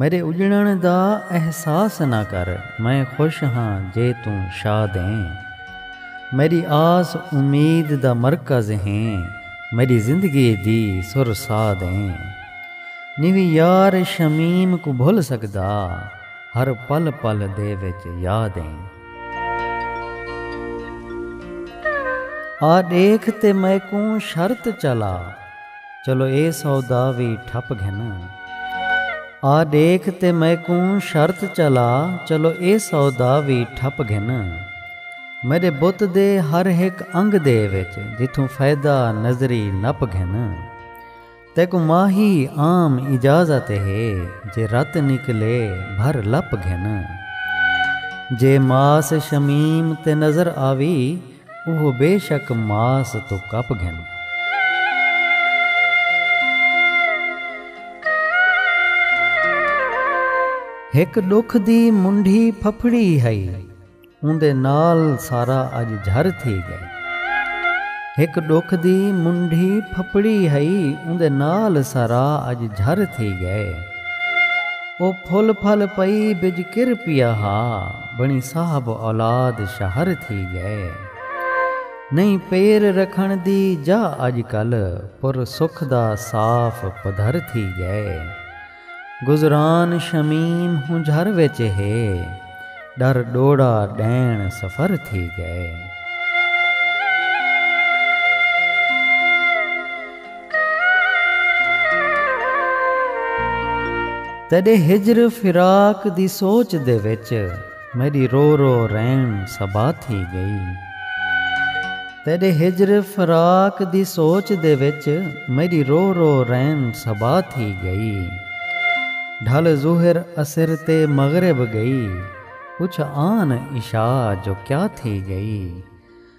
میݙے اڄݨݨ دا احساس نہ کر میں خوش ہاں جے توں شاد ایں میݙی آس امید دا مرکز ہیں میݙی زندگی دی سر ساد ایں نیوی یار شمیم کوں بھل سڳدا ہر پل پل دے وچ یاد ایں۔ آ ݙیکھ تے میکوں شرط چلا۔ چلو اے سودا وی ٹھپ گھن۔ آ ڈیکھ تے میکوں شرط چلا چلو اے سودا وی ٹھپ گھن۔ میڈے بت دے ہر ہک انگ دے وچ جتھوں فیدہ نظری نپ گھن۔ تیکوں ماہی عام اجازت ہے جے رت نکلے بھر لپ گھن۔ جے ماس شمیم تے نظر آوی۔ اوہ بے شک ماس توں کپ گھن۔ ہک ݙکھ دی منڈھی پھپھڑی ہئی۔ اوندے نال سارا اڄ جھر تھی ڳئے۔ ہک ݙکھ دی منڈھی پھپھڑی ہئی۔ اوندے نال سارا اڄ جھر تھی ڳئے۔ اوہ پھل پھل پئی بج کر پیا ہا۔ بݨی صاحب اولاد شہر تھی ڳئے۔ نئیں پیر رکھݨ دی جاہ اڄ کل پر سکھ دا صاف پدھر تھی ڳئے۔ گزران شمیم ہنجھر وچ ہے ݙر ݙوڑا ݙیݨ سفر تھی ڳئے۔ تیݙے ہجر فراق دی سوچ دے وچ میݙی رو رو رین صبا تھی ڳئی تیݙے ہجر فراق دی سوچ دے وچ میݙی رو رو رین صبا تھی ڳئی ڈھل ظہر عصر تے مغرب ڳئی پچھ آن عشاء جو کیا تھی ڳئی۔